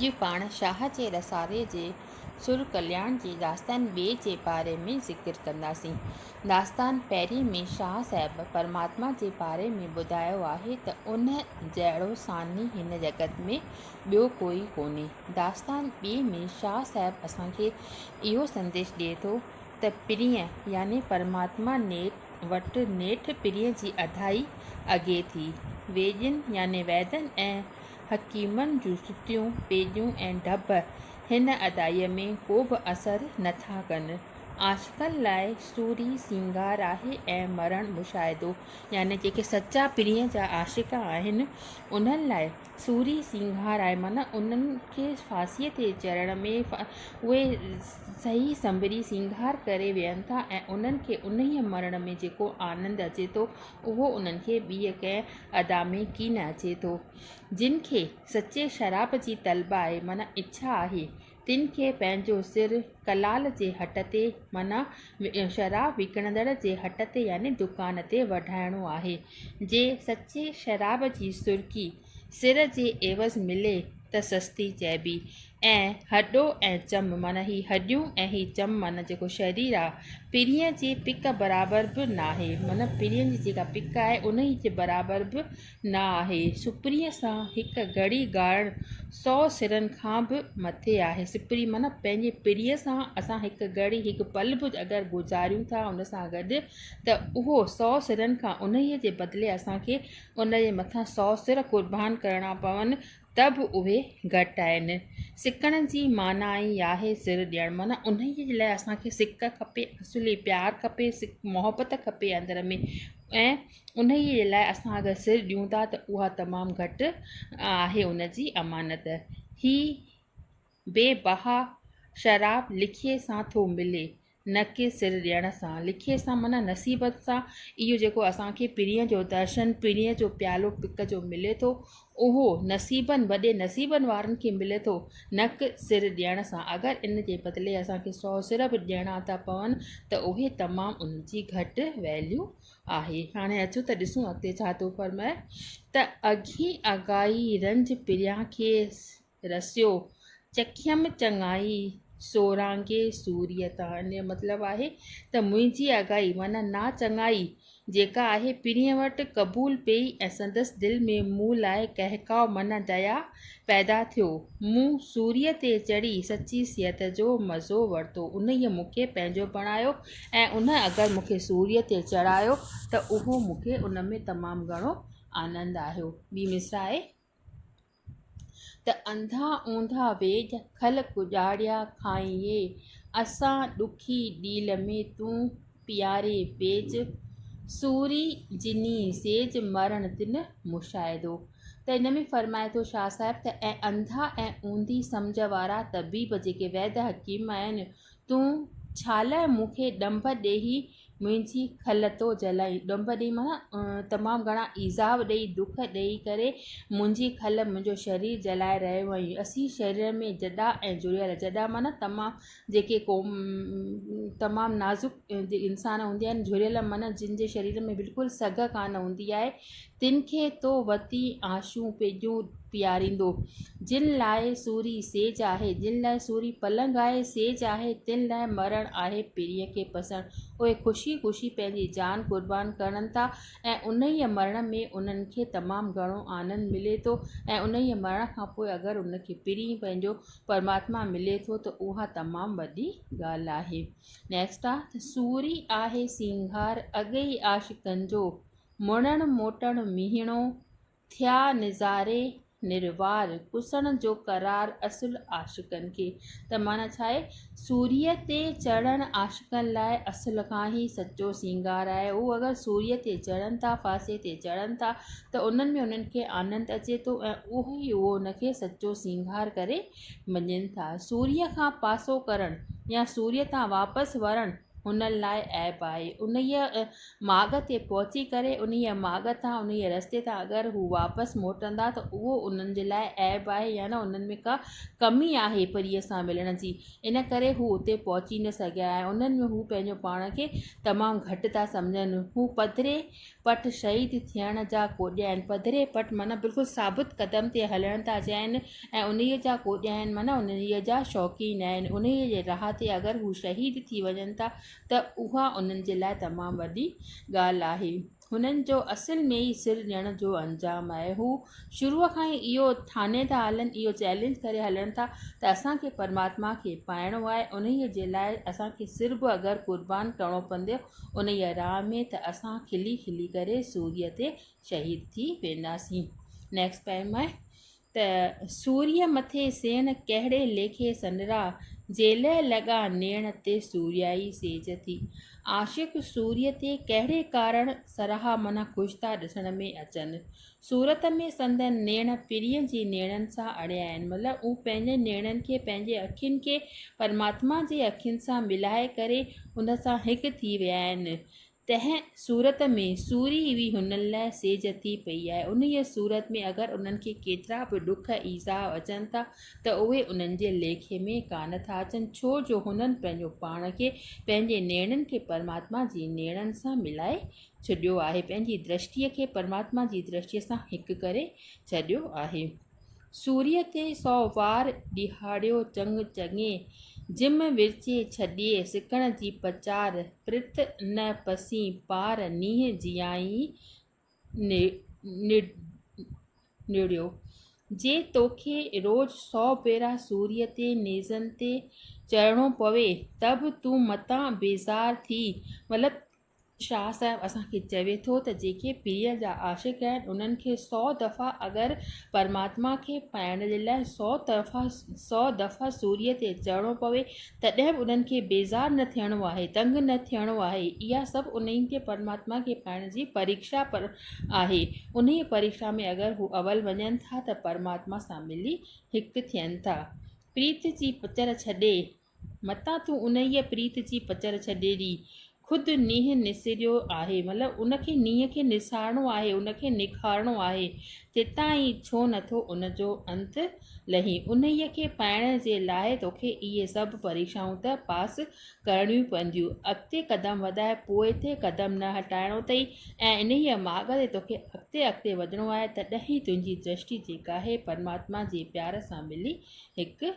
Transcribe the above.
جي پاڻ شاهه جي رسالي جي سر ڪلياڻ جي داستان ٻئي جي باري ۾ ذڪر ڪنداسين. داستان پهرين ۾ شاهه صاحب پرماتما جي باري ۾ ٻڌايو آهي ته ان جهڙو ثاني هن جڳت ۾ ٻيو ڪوئي ڪونهي. داستان ٻئي ۾ شاهه صاحب اسان کي اهو سنديش ڏئي ٿو ته پرينء يعني پرماتما نيٺ وٽ نيٺ پرينء جي اڌائي اڳي ٿي. ويڄين يعني ويدن ۽ حڪيمن جون ستيون، پيڄون ۽ ڍٻ هن ادائيء ۾ ڪو به اثر نه ٿا ڪن. عاشقن لاء سوري سينگار آهي ۽ مرڻ مشاهدو. يعني جيڪي سچا پرينء جا عاشق آهن، انهن لاء سوري سينگار آهي، معنيٰ انهن کي ڦاسيء تي چڙهڻ ۾ اهي سهي سنڀري سينگار ڪري ويهن ٿا ۽ انهن کي انهيء مرڻ ۾ جيڪو آنند اچي ٿو، اهو انهن کي ٻيء ڪنهن ادا ۾ ڪي نه اچي ٿو. جن کي سچي شراب جي طلب آهي، معنيٰ اڇا آهي، تن کي پنهنجو سر ڪلال جي هٽ تي، معنيٰ شراب وڪڻندڙ جي هٽ تي يعني دڪان تي وڍائڻو آهي. جي سچي شراب جي سرڪي، سر جي عيوض ملي ته سستي چئبي ۽ هڏو ۽ چم معنيٰ هي هڏيون ۽ هي چم معنيٰ جيڪو شرير آ پرينء جي پڪ برابر به ناهي معنيٰ پرينء جي جيڪا پڪ آهي انهي جي برابر به نه آهي سپريء سان هڪ گهڙي گهارڻ سؤ سرن کان به مٿي آهي سپري معنيٰ پنهنجي پرينء سان اسان هڪ گهڙي هڪ پل به اگر گذاريون ٿا ان سان گڏ ته اهو سؤ سرن کان انهي جي بدلي اسان کي ان جي مٿان سؤ سر قربان ڪرڻا پون ته به اهي گهٽ آهن. سڪڻ جي معنيٰ ئي آهي سر ڏيڻ. معنيٰ انهيء جي لاء اسان کي سڪ کپي، اصلي پيار کپي، سڪ محبت کپي اندر ۾. ۽ انهيء جي لاء اسان اگر سر ڏيون ٿا ته اها تمام گهٽ آهي ان جي امانت. هي بي بها شراب لکيء سان ٿو ملي. نه ڪي سر ڏيڻ سان. لکيء سان معنيٰ نصيبت سان. اهو جيڪو اسان کي پرينء جو درشن، پرينء جو پيالو پڪ جو ملي ٿو، اهو نصيبن، وڏي نصيبن وارن کي ملي ٿو، نه ڪي سر ڏيڻ سان. اگر ان جي بدلي اسان کي سؤ سر به ڏيڻا ٿا پون ته اهي تمام ان جي گهٽ Value آهي. هاڻي اچو ته ڏسون اڳتي ڇا ٿو فرمائي ته اگهين اگهائي رنج پريان کي. رسيو چکيم چڱائي سورانگي سوريء تان ان جو مطلب آهي ته منهنجي آگاهي معنيٰ نا چڱائي جيڪا آهي پرينء وٽ قبول پئي ۽ سندس دل ۾ مون لاء ڪهڪاء معنيٰ ديا پيدا ٿيو مون سوريء تي چڙهي سچي صحت جو مزو ورتو انهيء مون کي پنهنجو بڻايو ۽ ان اگر مون کي سوريء تي چڙهايو ته اهو مون کي ان ۾ تمام گهڻو آنند آيو ٻي مصرع آهي. ته انڌا اونڌا ويڄ کل ڪڄاڙيا کائينء اسان ڏکي ڏيل ۾ تون پياري پيج سوري جني سيج مرڻ تن مشاهدو ته ان ۾ فرمائي ٿو شاهه صاحب ته اي انڌا ۽ اونڌي سمجهه وارا طبيب جيڪي ويد حڪيم آهن تون ڇالاء مون کي ڏنڀ ڏيهي منهنجي کل تو جلائي. ڏنڀ ڏئي معنيٰ تمام گهڻا ايذاء ڏئي، دک ڏئي ڪري منهنجي کل منهنجو شرير جلائي رهيو هئائين. اسين شرير ۾ جڏا ۽ جڙيل، جڏا معنيٰ تمام جيڪي تمام نازڪ انسان هوندي آهن، جڙيل معنيٰ جن جي شرير ۾ بلڪل سگهه ڪانه هوندي آهي، تن کي تو وتي آشون پيڄون پياريندو. جن لاء سوري سيج آهي، جن لاء سوري پلنگ آهي، سيج آهي، تن لاء مرڻ آهي پرينء کي پسڻ. اهي خوشي خوشي پنهنجي جان قربان ڪرن ٿا ۽ انهيء مرڻ ۾ انهن کي تمام گهڻو آنند ملي ٿو ۽ انهيء مرڻ کان پوء اگر انهن کي پرين پنهنجو پرماتما ملي ٿو ته اها تمام وڏي ڳالهه آهي. Next آ، سوري آهي سينگار اڳ ئي عاشقن جو، مڙڻ موٽڻ ميهڻو، ٿيا نظاري نروار، ڪسڻ جو قرار اصل عاشقن کي. ته معنيٰ ڇا آهي؟ سوريء تي چڙهڻ عاشقن لاء اصل کان ئي سچو سينگار آهي. هو اگر سوريء تي چڙهن ٿا، ڦاسي تي چڙهن ٿا ته انهن ۾ انهن کي آنند اچي ٿو ۽ اهو ئي اهو ان کي سچو سينگار ڪري مڃين ٿا. سوريء کان پاسو ڪرڻ يا سوريء تان واپس ورڻ، انهن لاء عيب آهي انهيء ماڳ تي پهچي ڪري انهيء ماڳ تان انهيء رستي تان اگر هو واپس موٽندا ته اهو انهن جي لاء عيب آهي يعني انهن ۾ ڪا ڪمي آهي پريء سان ملڻ جي ان ڪري هو اتي پهچي نه سگهيا ۽ انهن ۾ هو پنهنجو پاڻ کي تمام گهٽ ٿا سمجهن هو پڌري پٽ شهيد ٿيڻ جا ڪوڏيا آهن. پڌري پٽ معنيٰ بلڪل ثابت قدم تي هلڻ ٿا چاهين ۽ انهيء جا ڪوڏيا آهن معنيٰ انهيء جا شوقين آهن. انهيء جي راهه تي اگر هو شهيد ٿي وڃن ٿا ته اها انهن جي لاء تمام وڏي ڳالهه آهي. هنن جو اصل ۾ ئي سر ڏيڻ جو انجام آهي. هو شروع کان ئي اهو ٺاني ٿا هلن، اهو چئلينج ڪري هلن ٿا ته اسان کي پرماتما کي پائڻو آهي. انهيء جي لاء اسان کي سر به اگر قربان ڪرڻو پوندو انهيء راهه ۾ ته اسان کلي کلي ڪري سوريء تي شهيد ٿي وينداسين. Next poem آهي ته سوريء مٿي سيڻ ڪهڙي ليکي سنرا جيلهه لڳا نيڻ تي سوريائي سيج ٿي عاشق سوريء تي ڪهڙي ڪارڻ سراها منا خوش ٿا ڏسڻ ۾ اچن صورت ۾ سندن نيڻ پرينء جي نيڻن سان اڙيا آهن، مطلب هو پنهنجن نيڻن کي پنهنجي اکين کي پرماتما جي اکين سان ملائي ڪري ان سان هڪ ٿي ويا آهن. تنهن صورت ۾ سوري ئي هنن لاء سيج ٿي پئي آهي. انهيء صورت ۾ اگر انهن کي ڪيترا به ڏک ايذاء اچن ٿا ته اهي انهن جي ليکي ۾ ڪانه ٿا اچن، ڇو جو هنن پنهنجو پاڻ کي پنهنجي نيڻن کي پرماتما جي نيڻن سان ملائي ڇڏيو آهي پنهنجي درشٽيء کي پرماتما جي درشٽيء سان هڪ ڪري ڇڏيو آهي سوريء تي سؤ وار ڏيهاڙيو چڱ چڱي جم ورچي ڇڏي سڪڻ جي پچار پرت نه پسين پار نينهن جيائين نڙيو جي توکي روز سؤ ڀيرا سوريء تي نيزن تي چڙهڻو پوي ته به تون متان بيزار ٿي مطلب شاهه صاحب اسان کي چوي ٿو ته جيڪي پيء جا عاشق آهن انهن کي سؤ دفعا اگر پرماتما کي پائڻ جي لاء سؤ طرفا سؤ دفعا سوريء تي چڙهڻو پوي تڏهن به انهن کي بيزار نه ٿيڻو آهي دنگ نه ٿيڻو آهي اها سڀ انهيء کي پرماتما کي پائڻ جي پريڪشا آهي انهيء پريڪشا ۾ اگر هو اول وڃن ٿا ته پرماتما سان ملي هڪ ٿين ٿا پريت جي پچر ڇڏي متان تون انهيء پريت جي پچر ڇڏي ڏي. خود نينهن نسريو آهي، مطلب ان کي نينهن کي نسارڻو آهي، ان کي نکارڻو آهي، تيتائين ڇو نه ٿو ان جو انت لهين؟ انهيء کي پائڻ جي لاء توکي اهي سڀ پريڪشائون ته پاس ڪرڻيون پونديون. اڳتي قدم وڌائي پوئتي قدم نه هٽائڻو اٿئي ۽ انهيء ماڳ تي توکي اڳتي اڳتي وڌڻو آهي، تڏهن ئي تنهنجي درشٽي جيڪا آهي، پرماتما جي پيار سان ملي هڪ